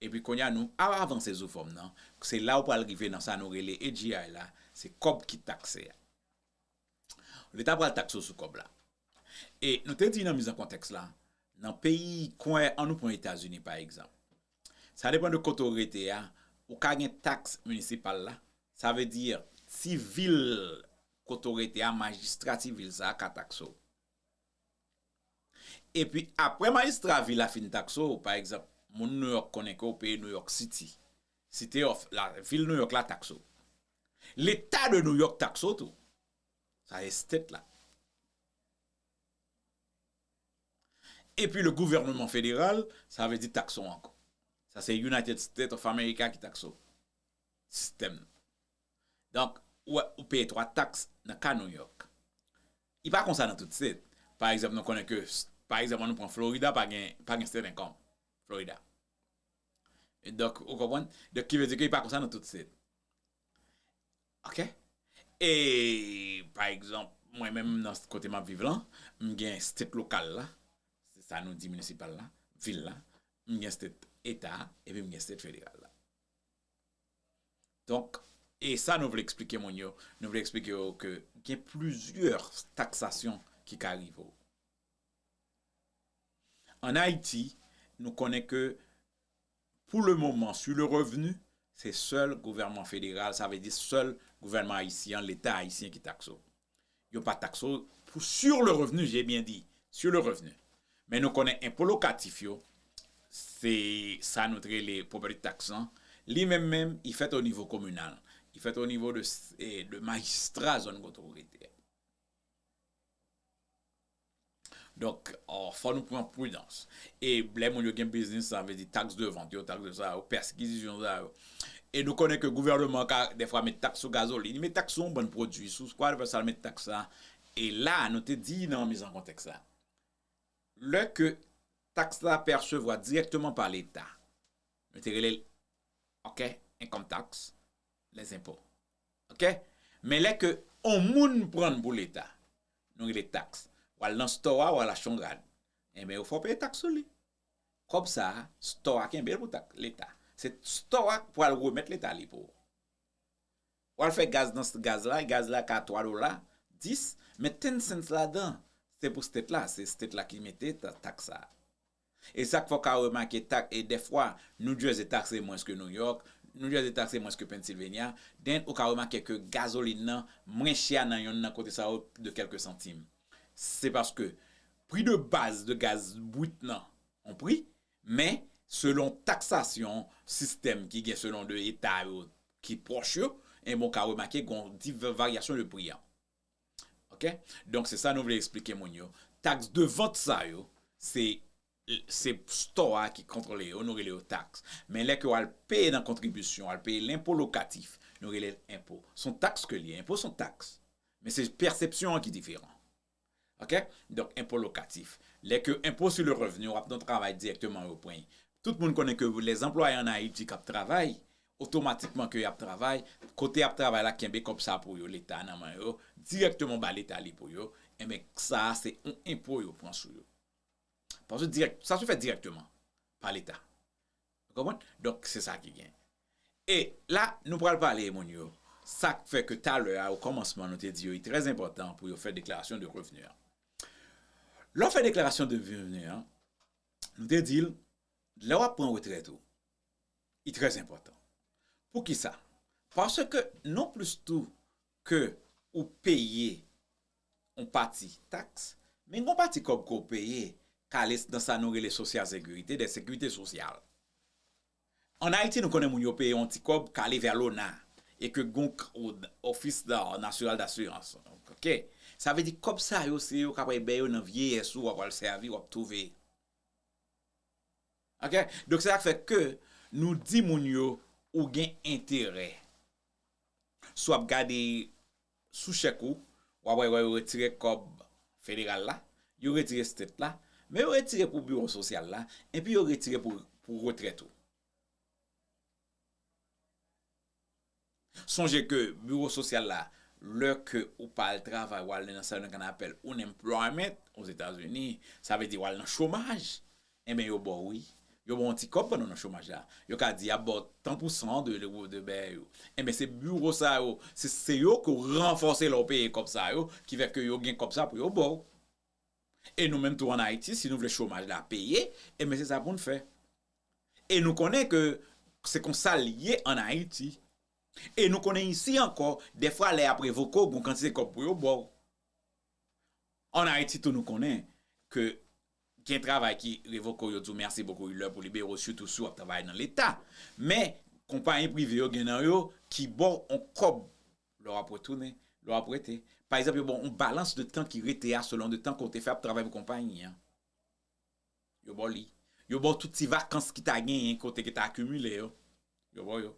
Epi kounye a nou ap avanse sou fòm nan, se la ou pral rive nan sa nou rele AGI la, se kòb ki takse a. Leta pral takse w sou kòb la. E nou te di nan miz an kontèks la, nan peyi kwen an nou pran Etazini pa egzanp. Sa depan de kote ou rete a, ou ka gen taks minisipal la, sa vle di ti vil kote ou rete a, majistra ti vil sa a ka takse w. Epi apre majistra vil la fin takse w, pa egzanp, moun Nouyòk konnen ke w peye Nouyòk Siti, City of, vil Nouyòk la takse w. Leta de Nouyòk takse w tou. Sa se state la. Epi le gouvèneman federal, sa vle di takse w ankò. Sa se United State of America ki takse w. Sistèm nan. Donk, ou wè, ou peye twa taks nan ka New York. Li pa konsa nan tout state. Pa egzanp, nou konnen ke, pa egzanp, an nou pran Florida pa gen, pa gen state income. Florida. Donk, ou konprann? Donk, ki vle di ke li pa konsa nan tout state. Ok? E, pa egzanp, mwen menm nan kote m ap viv lan, m gen state lokal la, se sa nou di municipal la, vil la, m gen state eta a, epi m gen state federal la. Donk, e sa nou vle eksplike moun yo, nou vle eksplike yo ke gen plizyè taksasyon ki ka rive w. An Ayiti, nou konnen ke pou le moman su le revenu, se sèl gouvènman federal, sa vle di sèl gouvènman ayisyen an, leta ayisyen ki takse w. Yo pa takse w pou sur le revenu, j'ai bien dit, sur le revenu. Men nou konnen enpo lokatif yo, se sa nou te rele property tax lan, li menm menm, li fèt o nivo kominal. Li fèt o nivo de majistra zòn kote ou rete a. Donk, fò nou pran pridans. E lè moun yo gen biznis, sa vle di taks de vant yo, taks de sa yo, pèskizisyon sa yo. E nou konnen ke gouvèneman ka dèfwa met taks sou gazolin, li met taks sou yon bann pwodui, sou kwa dèfwa sa l met taks la. E la, nou te di nan miz an kontèks la, lè ke taks la pèsevwa dirèkteman pa Leta, nou te rele l, ok, enkom taks, les impôts ok men lè ke on moun prann pou leta nou rele tax wal nan store a wal achte yon rad enben ou fè w peye tax sou li kòb sa store a kenbe l pou tax leta se store a k pwal remèt leta li pou ou wal fè gaz nan gaz la gaz la ka 3 dola 10 men ten cents ladan se pou state la se state la ki mete tax sa. E sa k fè w ka remake tak e dèfwa New Jersey takse mwens ke New York, New Jersey takse mwens ke Pennsylvania, den ou ka remake ke gazolin nan mwen chè nan yonn nan kote sa yo de kèlke santim. Se paske pri de baz de gaz brit nan on pri, men selon taksasyon sistèm ki gen selon 2 eta yo ki pwòch yo, enben ou ka remake gon ti varyasyon de pri an. Ok donk se sa nou vle esplike moun yo tax de vant sa yo se se store a ki kontrole yo nou rele yo tax men lè ke yo al peye nan kontribisyon al peye lenpo lokatif nou rele l enpo son tax ke li enpo son tax men se pèsepsyon an ki diferan. Ok donk enpo lokatif lè ke enpo su le revni wap non travay dirèkteman yo pweny tout moun konnen ke lè anplwaye an ayiti kap travay otomatikman ke yap travay kote yap travay la kenbe kòb sa pou yo leta nan men yo dirèkteman ba leta li pou yo enben sa se yon enpo yo pran sou yo paske dirèk sa se fèt dirèkteman pa leta. Nou konprann? Donk, se sa ki gen. E, la, nou pral pale e moun yo, sa k fè ke talè a, okòmansman, nou te di yo li trè enpòtan pou yo fè deklarasyon de revni an. Lè w fè deklarasyon de revni an, nou te di l, lè w ap pran retrèt ou, li trè enpòtan. Pou ki sa? Paske, non plis tou ke ou peye yon pati taks, men gen yon pati kòb ke w peye kale nan sa nou rele sosyal sekirite, dèt sekirite sosyal. An Ayiti nou konnen moun yo peye yon ti kòb kale vè lona e ke gen yon ofis nasyonal dasirans. Ok. Sa vle di kòb sa yo se yo ka pral bè yo nan vyeyès ou, w ap pral sèvi, w ap twouve. Ok. Donk se sa k fè ke nou di moun yo ou gen enterè. Si w ap gade sou chèk ou, w ap wè yo retire kòb federal la, yo retire state la, men yo retire pou biwo sosyal la, enpi yo retire pou retrèt ou. Sonje ke biwo sosyal la, lè ke ou pa al travay, ou al nan sa yo menm kan apèl unemployment, o Zetazini, sa vle di ou al nan chomaj, Enben yo ba w wi. Yo ba w yon ti kòb pandan w nan chomaj la. Yo ka di y ap ba w tan pou san de bèyè yo. Enben se biwo sa yo, se yo ke w ranfòse lè w peye kòb sa yo ki fè ke yo gen kòb sa pou yo ba w. E nou menm tou an Ayiti si nou vle chomaj la peye, enben se sa pou n fè. E nou konnen ke se kon sa l ye an Ayiti. E nou konnen isi ankò dèfwa lè y ap revoke w gen yon kantite kòb pou yo ba w. En Haïti tou nou konnen ke gen travay ki revoke w yo di w merci beaucoup li lè pou w libere w sitou si w ap travay nan leta men konpayi prive yo gen nan yo ki ba w yon kòb lè w ap retounen lè w ap rete pa egzanp yo ba w yon balans de tan ki rete a selon de tan ke w te fè ap travay pou konpayi an yo ba w li yo ba w tout ti vakans ki ta genyen ke w te gentan akimile yo yo ba w yo.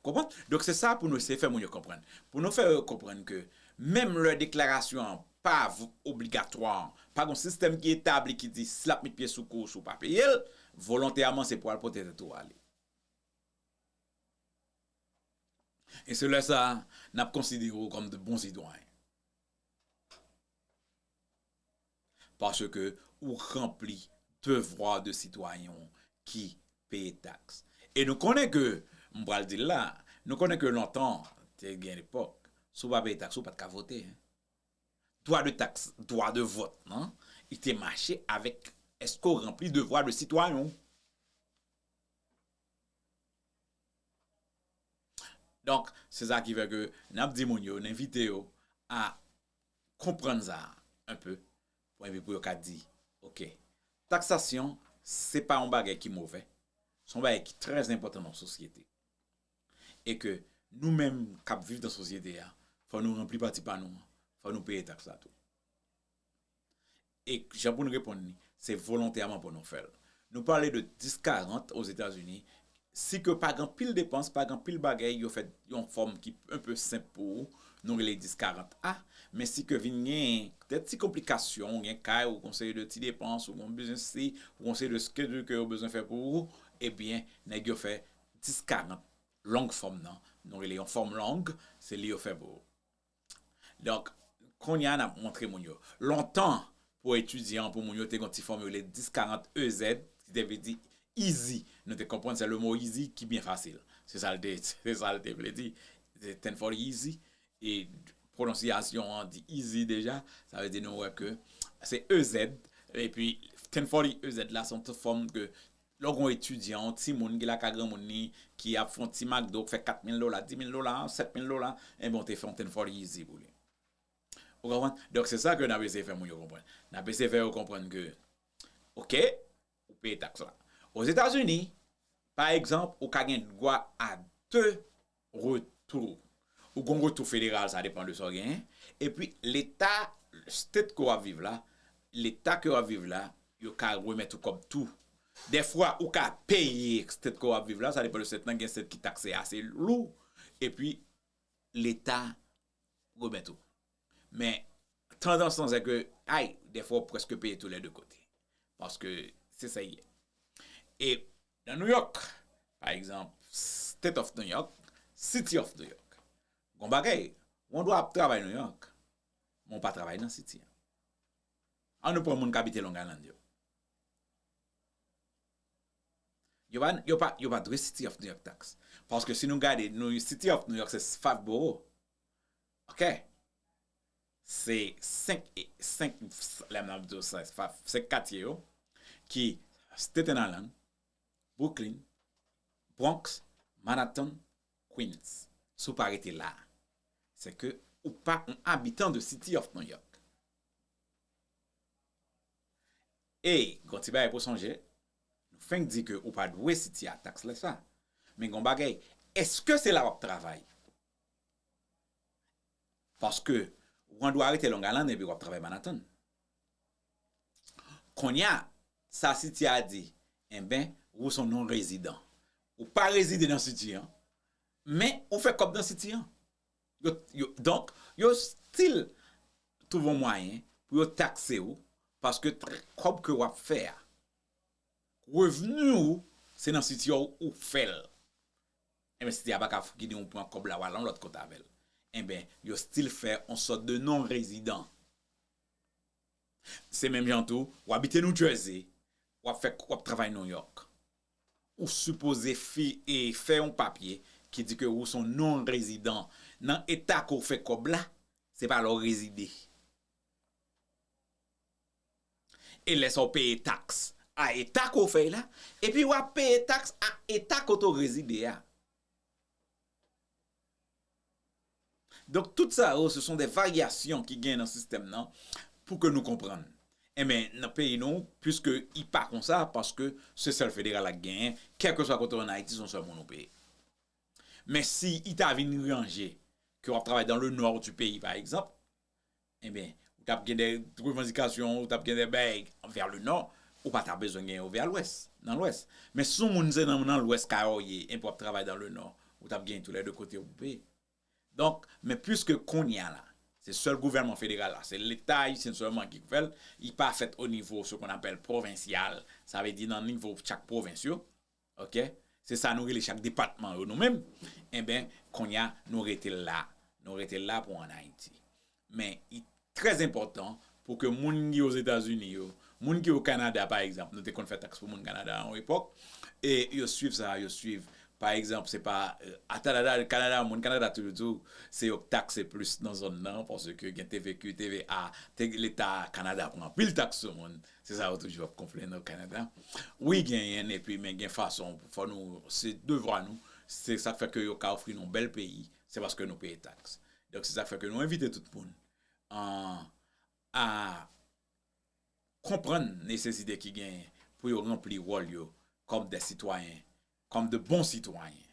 Konprann? Donk se sa pou nou eseye fè moun yo konprann. Pou nou fè yo konprann ke menm lè deklarasyon an pa obligatwa, pa gen yon sistèm ki etabli ki di si l ap met pye sou kou w si w pa peye l, volontèman se pou w al pote tèt ou ale. E se lè sa a n ap konsidere w kòm de bon sitwayen. paske ou ranpli devwa de sitwayen w ki peye taks. E nou konnen ke, m pral di l la, nou konnen ke lontan, te gen epòk, si w pa peye taks ou pat ka vote. Dwa de taks, dwa de vòt lan, li te mache avèk èske w ranpli devwa de sitwayen w. Donk, se sa ki fè ke n ap di moun yo, n envite yo a konprann sa a un peu pou epi pou yo ka di ok taksasyon se pa yon bagay ki movè se yon bagay ki trè enpòtan nan yon sosyete e ke nou menm kap viv nan sosyete a fò nou ranpli pati pa nou an fò nou peye taks la tou. E jan pou n reponn li, se volontèman pou nou fè l. Nou pale de 10, 40 Ozetazini, si ke pa gen anpil depans, pa gen anpil bagay, yo fè yon fòm ki un peu senp pou ou, nou rele 10, 40 a, men si ke vin gen de ti konplikasyon, ou gen kay, ou gen yon seri de ti depans, ou gen yon biznis si, ou gen yon seri de schedule ke yo bezwen fè pou ou, ebyen nèg yo fè 10, 40 long fòm nan, nou rele yon fòm long, se li yo fè pou ou. Donk, kounye a n ap montre moun yo. Lontan, pou etidyan, pou moun yo, te gen yon ti fòm yo rele 10 40 EZ, ki te vle di izi. Nou te konprann se lemo izi ki byen fasil. Se sa l te, se sa l te vle di. Ten fòl izi, e pwononsyasyon an di izi deja, sa vle di nou wè ke se EZ, epi ten fòl EZ la se yon ti fòm ke Lè w gen yon etidyan, yon timoun ki lakay granmoun li, ki ap fè yon ti McDo, k fè 4 mil dola, 10 mil dola, 7 mil dola, enben w te fè yon Ten for Easy pou li. Ou konprann? Donk se sa ke n ap eseye fè moun yo konprann. N ap eseye fè yo konprann ke, ok, ou peye taks la. Ozetazini, pa egzanp, ou ka gen dwa a 2 retou ou gon retou federal sa depan de sa w genyen epi leta state ke w ap viv la leta ke w ap viv la yo ka remèt ou kòb tou dèfwa ou ka peye state ke w ap viv la sa depan de state lan gen state ki takse ase lou epi leta remèt ou. Men, tandans lan se ke, ay, defwa ou preske peye tou lè de kote. Paske, se sa y ye. E, nan New York, pa egzanp, State of New York, City of New York, gon bagay, ou an dwa ap travay New York, men ou pa travay nan City an. An nou pran moun k abite Long Island yo. Yo pa dwe City of New York tax. Paske si nou gade City of New York se 5 boro. Ok. Se 5 lè m ap di w sa se 5 katye yo ki Staten Island, Brooklyn, Bronx, Manhattan, Queens. Si w pa rete la. Se ke ou pa yon abitan de City of New York. E, gon ti bagay pou w sonje, nou fenk di ke ou pa dwe sitye a taks lè sa. Men gon bagay, eske se la w ap travay? Paske, ou an dwa rete Longalann epi w ap travay Manatàn. Kounye a, sa siti a di, enben, ou son non rezidan. Ou pa rezide nan siti an, men ou fè kòb nan siti an. Donk, yo stil twouve yon mwayen pou yo takse ou paske kòb ke w ap fè a, revni ou se nan siti a ou fè l. Enben siti a pa ka fouki di ou pran kòb la ou al yon lòt kote avè l. Enben yo stil fè yon sòt de non rezidan. Se menm jan tou, ou abite New Jersey, ou ap travay New York. Ou sipoze fè yon papye ki di ke ou son non rezidan nan eta ke ou fè kòb la, se pa la ou rezide. E lè sa ou peye taks a eta ke ou fèy la, epi wap peye taks a eta kote ou rezide a. Donk tout sa yo se son de varyasyon ki gen nan sistèm nan pou ke nou konprann. Enben nan peyi nou puiske i pa konsa paske se sèl federal la ki genyen kèlkeswa kote w an Ayiti se yon sèl moun ou peye. Men si i ta vin ranje ke w ap travay dan le nò di peyi pa egzanp, Enben, ou t ap gen de revandikasyon, ou t ap gen de bègay vè le nò, ou pa ta bezwen gen yo vè lwès, nan lwès. Men si yon moun se nan lwès kay ou ye, enpi w ap travay dan le nò, ou t ap gen tou lè de kote yo pou peye. Donk, men piske kounye a la, se sèl gouvènman federal la, se leta ayisyen sèlman ki pou fè l, li pa fèt onivo se kon apèl pwovensyal, sa vle di nan nivo chak pwovens yo, Ok se sa nou rele chak depatman yo nou menm enben konnya nou rete l la nou rete l la pou an ayiti men i trè enpòtan pou ke moun ki ozetazini yo moun ki o kanada pa egzanp nou te konn fè taks pou moun kanada a yon epòk e yo swiv sa yo swiv pa egzanp se pa atalala kanada moun kanada toujou di w se yo k takse plis nan zòn nan paske gen tvq tva te leta kanada pran anpil taks sou moun Se sa yo toujou ap konplenn o Kanada. Wi genyen epi men gen fason fò nou se devwa nou, se sak fè ke yo ka ofri nou bèl peyi se paske nou peye taks. Donk se sak fè ke nou envite tout moun a konprann nesesite ki genyen pou yo ranpli wòl yo kòm de sitwayen, kòm de bon sitwayen.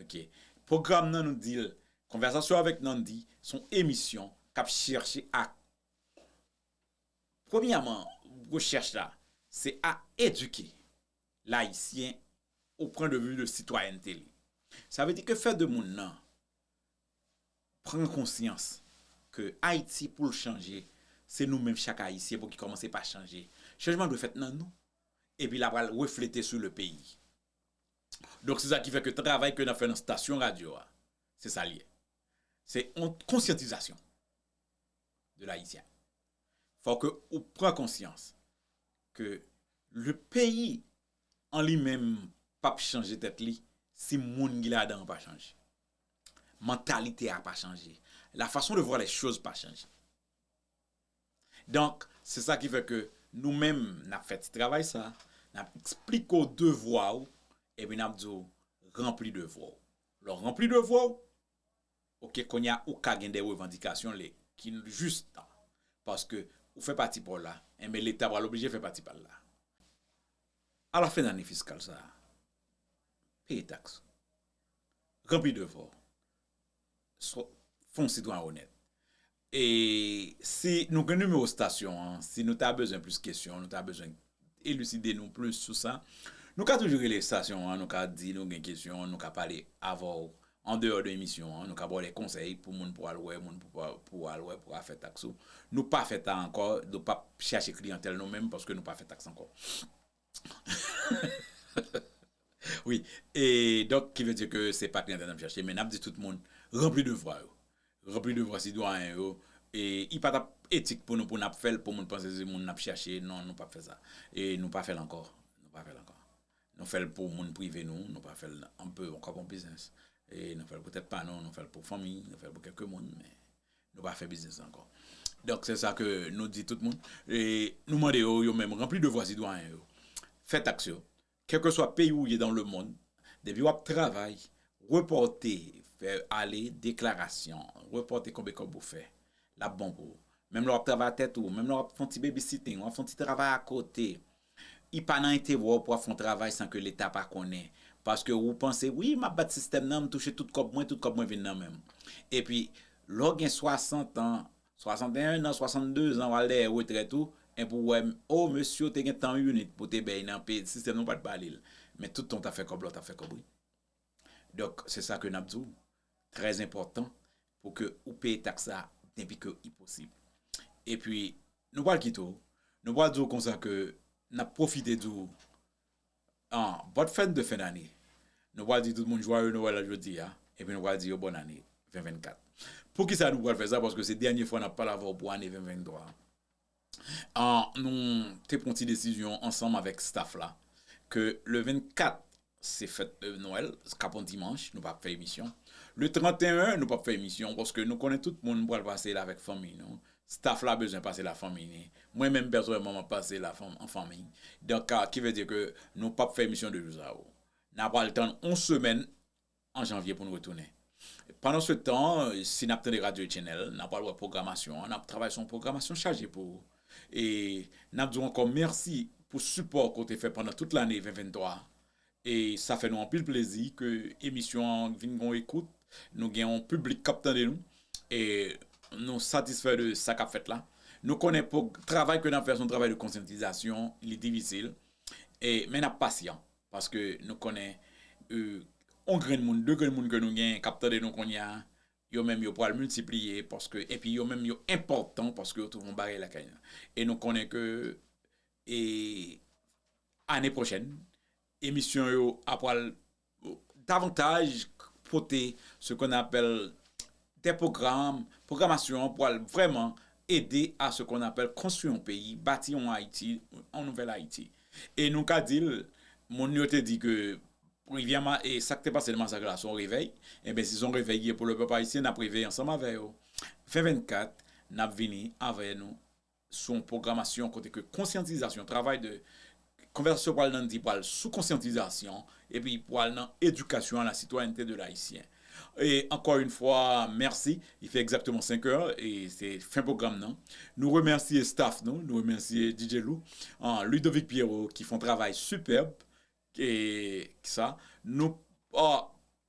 Ok. Pwogram nan nou dil Conversation avec Nandy son emisyon kap chèche ak. Premyèman, rechèch la, se a edike Layisyen o pwen de vi de sitwayènte li. Sa vle di ke fè de moun nan pran konsyans ke Ayiti pou l chanje, se nou menm chak Ayisyen pou ki kòmanse pa chanje. Chanjman dwe fèt nan nou, epi la pral reflete sou le peyi. Donk se sa ki fè ke travay ke n ap fè nan stasyon radyo a, se sa l ye. Se yon konsyantizasyon. de l'haïtien. Fò ke ou pran konsyans ke le peyi an li menm pap chanje tèt li si moun ki ladan an pa chanje. Mantalite a pa chanje. La fason de vwa lè choz pa chanje. Donk, se sa ki fè ke nou menm nap fè ti travay sa, nap eksplike w devwa ou, epi nap di w ranpli devwa ou. Lè w ranpli devwa ou, Ok konnya ou ka gen de revandikasyon le ki jis tan paske ou fè pati paw la enben leta pral oblije fè pati pal la a la fen ane fiskal sa peye taks ranpli devaw fon sitwayen onèt E si nou gen nimewo stasyon an, si nou ta bezwen plis kesyon, nou ta bezwen eliside nou plis sou sa, nou ka toujou rele stasyon an, nou ka di nou gen kesyon, nou ka pale avè w an deyò de emisyon an, nou ka ba w de konsèy pou moun pou al wè, moun pou al wè pou al fè taks ou. Nou pa fè ta ankò, nou pap chache kliyantèl nou menm paske nou pa fè taks ankò. Wi, e donk ki vle di ke se pa Trinidad nap chache men nap di tout moun ranpli devwa yo. Ranpli devwa sitwayen yo e i pa tap etik pou nou pou nap fèl pou moun panse se moun nap chache non nou pap fè sa. E nou pa fèl ankò, nou pa fèl ankò. Nou fèl pou moun prive nou, nou pa fèl anpe ankò pou biznis. E nou fèl pou tèt pa nou, nou fèl pou fanmi, nou fèl pou kèlke moun men Nou pa fè biznis ankò. Donk se sa ke nou di tout moun. E nou mande yo, yo menm, ranpli devwa sitwayen yo. Fè taks yo. Kèlkeswa peyi ou ye dan le mond, depi w ap travay, repòte, fè ale deklarasyon, repòte konbe kòb ou fè. L ap bon pou ou. Menm lè w ap travay a tèt ou, menm lè w ap fè yon ti babysitting, w ap fè yon ti travay akote, I pa nan enterè w pou ap fè yon travay san ke leta pa konnen. Paske wou panse, wi, m ap bat sistèm nan, m touche tout kòb mwen, tout kòb mwen vin nan men m. Epi, lè w gen 60 an, 61 nan, 62 zan, w al dèyè retrèt ou, enpi w wè, o, mesye w te gen tan yon unit pou w te bèy nan peyi, sistèm nan w pa t ba li l. Men tout tan w t ap fè kòb la, w t ap fè kòb wi. Donk se sa ke nap di w, trè enpòtan pou ke ou peye taks sa denpi ke li posib. E pi nou pral kite w, nou pral di w konsa ke nap pwofite di w an bòn fèt de fen dane, nou pral di tout moun jwaye Noel jodi a, e pi nou pral di yo bòn ane 2024. Poukisa nou pral fè sa? Paske se dènye fwa nap pale avè w pou ane 2023 an. nou te pran yon ti desizyon ansanm avèk staff la ke le 24 se fèt nwèl kap yon dimanch nou pap fè emisyon le 31 nou pap fè emisyon paske nou konnen tout moun pral pase la avèk fanmiy nou staff la bezwen pase la fanmiy li mwen menm pèsonèlman map pase la an fanmiy donk ki vle di ke nou pap fè emisyon 2 jou sa yo na pral tann yon semèn an janvye pou n retounen. Pandansetan, si n ap tande radyo Channel, n ap pral wè pwogramasyon an, n ap travay sou yon pwogramasyon chaje pou ou. E n ap di w ankò mèsi pou sipò ke w te fè pandan tout lane 2023 a. E sa fè nou anpil plezi ke emisyon an vin gen yon ekout, nou gen yon piblik k ap tande nou. E nou satisfè de sa k ap fèt la. Nou konnen travay ke n ap fè se yon travay de konsyantizasyon, li difisil, men n ap pasyan. Paske nou konnen yon grenn moun, 2 grenn moun ke nou gen kap tande nou kounye a, yo menm yo pwal miltipliye paske epi yo menm yo enpòtan paske yo twouve yon bagay lakay nou. E nou konnen ke e ane pwochèn emisyon yo a pwal davantaj pote se kon apèl de pwogram, pwogramasyon an pwal vrèman ede a se kon apèl konstwi yon peyi, bati yon Ayiti, yon nouvèl Ayiti. E nou ka di l, moun yo te di ke rivyè ma, e sa k te pase nan masak la se yon revèy, enben si se yon revèy ki ye pou le pèp ayisyen n ap reveye ansanm avè yo. Fen 24, n ap vini avè nou sou yon pwogramasyon kote ke konsyantizasyon, travay de konvèsasyon pral nan di pral sou konsyantizasyon epi pral nan edikasyon a la sitwayènte de l ayisyen. Ankò yn fwa mèsi. Li fè egzakteman 5 è e se fen pwogram nan. Nou remèsye staf nou, nou remèsye DJ Lou, Ludovic Pierrot ki fon travay sipèb e ki sa. Nou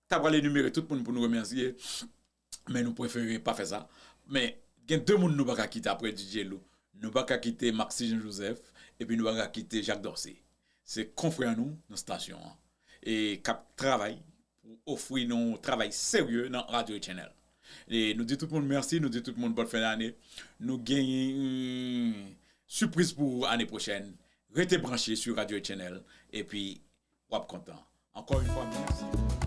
ta pral enimere tout moun pou nou remèsye men nou prefere pa fè sa. Men gen 2 moun nou pa ka kite aprè DJ Lou. Nou pa ka kite Maxi Jean Joseph epi nou pa ka kite Jacques Dorcé. Se konfrè nou nan stasyon an e k ap travay Pou ofri nou travay serye nan Radio Channel. Nou di tout moun mèsi, nou di tout moun bòn fen dane. Nou gen yn sipriz pou ou ane pwochèn. Rete branche sou Radio Channel epi w ap kontan. Ankò yn fwa mèsi.